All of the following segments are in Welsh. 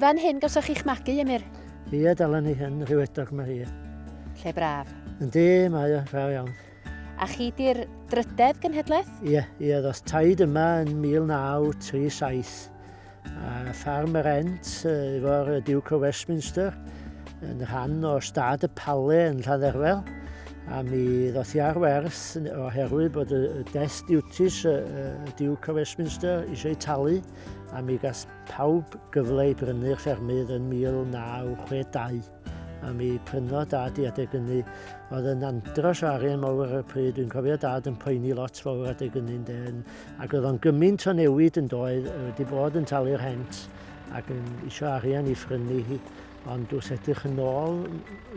Fan hyn gawsoch chi'ch magu, Emyr? Ie, dalen ni hyn, rhywedog mae hi. Lle braf. Yndi, mae o, braf iawn. A chi di'r drydedd genhedlaeth? Ie, ie, ddoth taid yma yn 1937. A ffarm yr Ent efo'r Duke o Westminster yn rhan o stad y Pale yn Lladderfel. A mi ddoth i ar werth oherwydd bod y death duties y Duke o Westminster eisiau ei talu a mi gas pawb gyfle i brynu'r ffermydd yn 1962. a mi prynodd dad i adeg ynny. Oedd yn andros o arian mawr ar y pryd, dwi'n cofio dad yn poeni lot fawr adeg ynny'n den, ac oedd o'n gymaint o newid yn doedd, wedi bod yn talu'r hent ac yn eisiau arian i ffrynu hi, ond wrth edrych yn ôl,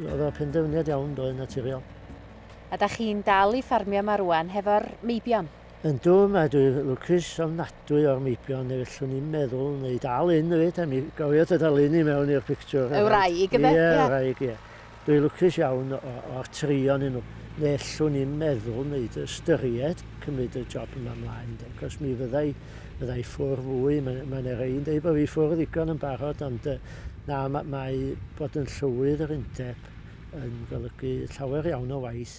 oedd o'r penderfyniad iawn doedd naturiol. A da chi'n dal i ffarmio yma rwan hefo'r meibion? Yndw, mae dwi lwcus ofnadwy o'r meibion neu fellwn i'm meddwl neu dal un efyd a mi gofio dy dal un i mewn i'r pictiwr. Y wraig yfe? Ie, y wraig, ie. Dwi lwcus iawn o'r tri onyn nhw. Nellwn i'm meddwl neu dy ystyried cymryd y job yma mlaen de, cos mi fydda i fydda i ffwr fwy, mae mae yna rei'n deud bod fi ffwr ddigon yn barod ond yy na, ma- mae bod yn llywydd yr undeb yn golygu llawer iawn o waith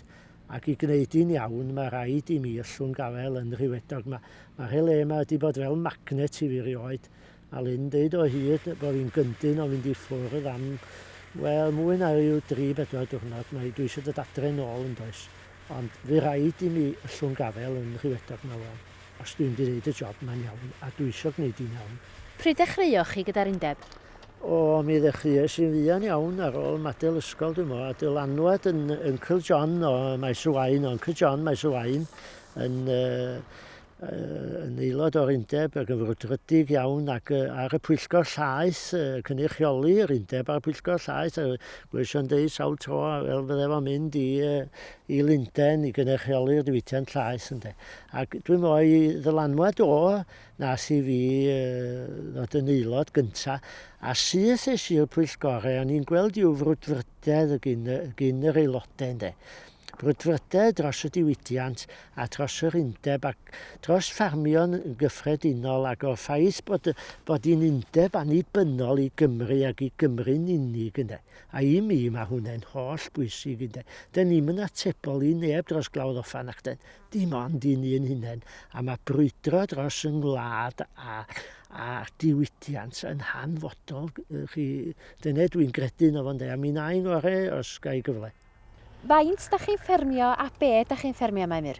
Ac i gneud hi'n iawn, mae rhaid i mi yllwng gafael yn rhyfeddog. Mae, mae'r he le yma wedi bod fel magnet i fi rioed. A Lynn deud o hyd bod fi'n gyndyn o fynd i ffwrdd am, wel, mwy na rhyw dri bedwar diwrnod. Mae, dwi eisiau dod adre nôl, yn does? Ond fy rhaid i mi yllwng gafael yn rhyfeddog 'ma wan. Os dwi 'md neud y job 'ma'n iawn, a dwi isio gneud hi'n iawn. Pryd ddechreuoch chi gyda'r undeb? O, mi ddechreuais i'n fuan iawn ar ôl madel ysgol dwi m'wl, a dylanwad yn Uncle John o Maes y Waun, o Uncle John Maes y Waun yn yy yn aelod o'r undeb ag yn frwdfrydig iawn ac yy ar y pwyllgor llaeth yy cynrychioli yr undeb ar y pwyllgor llaeth a gweision deud sawl tro fel fydde fo'n mynd i yy i Lundain i gynrychioli'r diwydiant llaes ynde. Ac dwi'n meddwl ei ddylanwad o nas i fi ddod yn aelod gyntaf, a syth es i'r pwyllgorau, o'n i'n gweld i'w frwdfrydedd y gyn, gyn yr aelodau ynde. Brwdfrydedd dros y diwydiant a dros yr undeb ac dros ffarmio'n gyffredinol ac o'r ffaith bod, bod hi'n undeb annibynnol i Gymru ac i Gymru'n unig ynde. A i mi, mae hwnne'n holl bwysig, ynde. Dŷn ni'm yn atebol i neb dros glawdd offa, nacdŷn? Dim ond i'n un hunain. A mae brwydro dros yng ngwlad a, a diwydiant yn hanfodol, chi. Dyna dwi'n gredu yno fo, ynde, a mi wna i'n ngore os ga i gyfle. Faint da chi'n ffermio a be da chi'n ffermio, Maimir?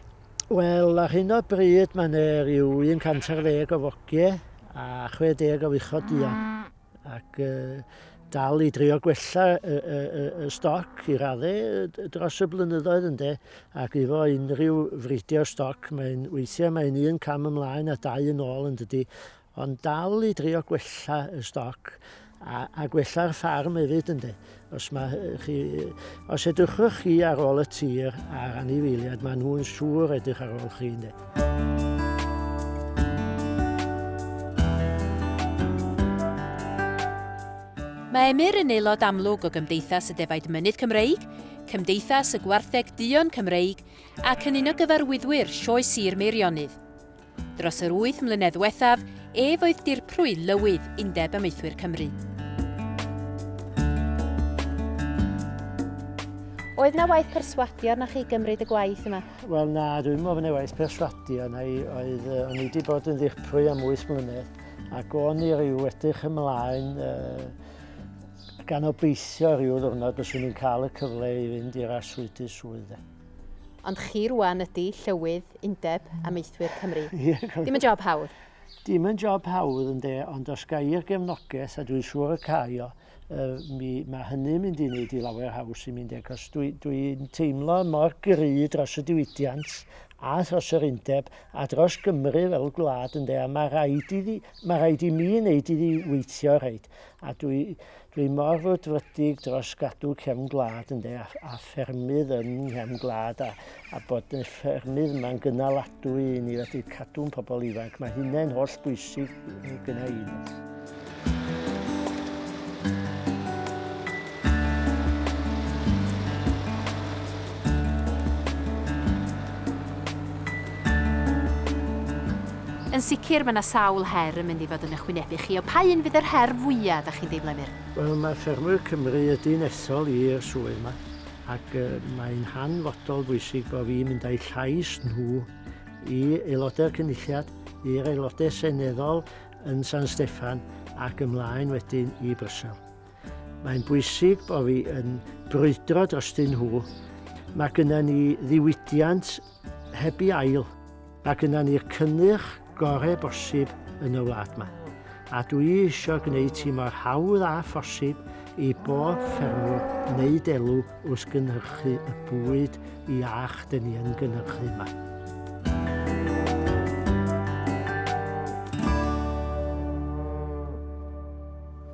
Wel, ar hyn o bryd mae 'na ryw un cant ar ddeg o fogie a chwe deg o fuchod duon. ac uh, dal i drio gwella y, y, y, y stoc i raddau dros y blynyddoedd ynde, ac efo unrhyw fridio stoc, mae'n weithiau mae'n un cam ymlaen a dau yn ôl yn dydy, ond dal i drio gwella y stoc a, a gwella'r ffarm hefyd ynde. Os, ma, chi, os edrychwch chi ar ôl y tir a'r anifeiliad, maen nhw'n siŵr edrych ar ôl chi. Ynde? Mae Emyr yn aelod amlwg o Gymdeithas y Defaid Mynydd Cymreig, Cymdeithas y Gwartheg Duon Cymreig ac yn un o gyfarwyddwyr Sioe Sir Meirionnydd. Dros yr wyth mlynedd ddiwethaf, ef oedd dirprwy lywydd Undeb Amaethwyr Cymru. Oedd na waith perswadio na chi gymryd y gwaith yma? Wel na, dwi'n meddwl bod waith perswadio na i oedd uh, o'n i wedi bod yn ddirprwy am 8 mlynedd ac o'n i rhyw edrych ymlaen uh, gan obeithio rhyw ddwrnod byswn i'n cael y cyfle i fynd i'r aswyd i swydd. Ond chi rwan ydi Llywydd Undeb Amaethwyr Cymru. Dim yn job hawdd. Dim yn job hawdd ynde, ond os ga i'r gefnogaeth, a dwi'n siŵr y cai o, mi, mae hynny'n mynd i wneud i lawer haws i mi ynde, cos dwi, dwi'n teimlo mor gry dros y diwydiant a thros yr undeb a dros Gymru fel gwlad ynde, a mae rhaid, iddi, mae rhaid i mi wneud iddi weithio rhaid. A dwi, dwi mor rwydfrydig dros gadw cefn gwlad ynde, a, a ffermydd yn nghefn gwlad, a, a bod y ffermydd yma'n gynaladwy i ni wedi cadw'n pobl ifanc. Mae hynny'n holl bwysig gyda i. Yn sicr, mae 'na sawl her yn mynd i fod yn 'ych hwynebu chi, ond pa un fydd yr her fwya' 'dach chi'n deimlo, Emyr? Wel, mae Ffermwyr Cymru y Dinesol i'r swydd 'ma, ac mae'n hanfodol bwysig bo' fi'n mynd â'u llais nhw i Aelodau'r Cynulliad, i'r Aelodau Seneddol yn San Steffan ac ymlaen wedyn i Brysel. Mae'n bwysig bod fi yn brwydro drostyn nhw. Mae gyda ni ddiwydiant heb i ail. Mae gyda ni'r cynnyrch gorau bosib yn y wlad yma. A dwi eisiau gwneud hi mor hawdd a phosib i bob ffermwr wneud elw wrth gynhyrchu y bwyd iach dyn ni yn gynhyrchu yma.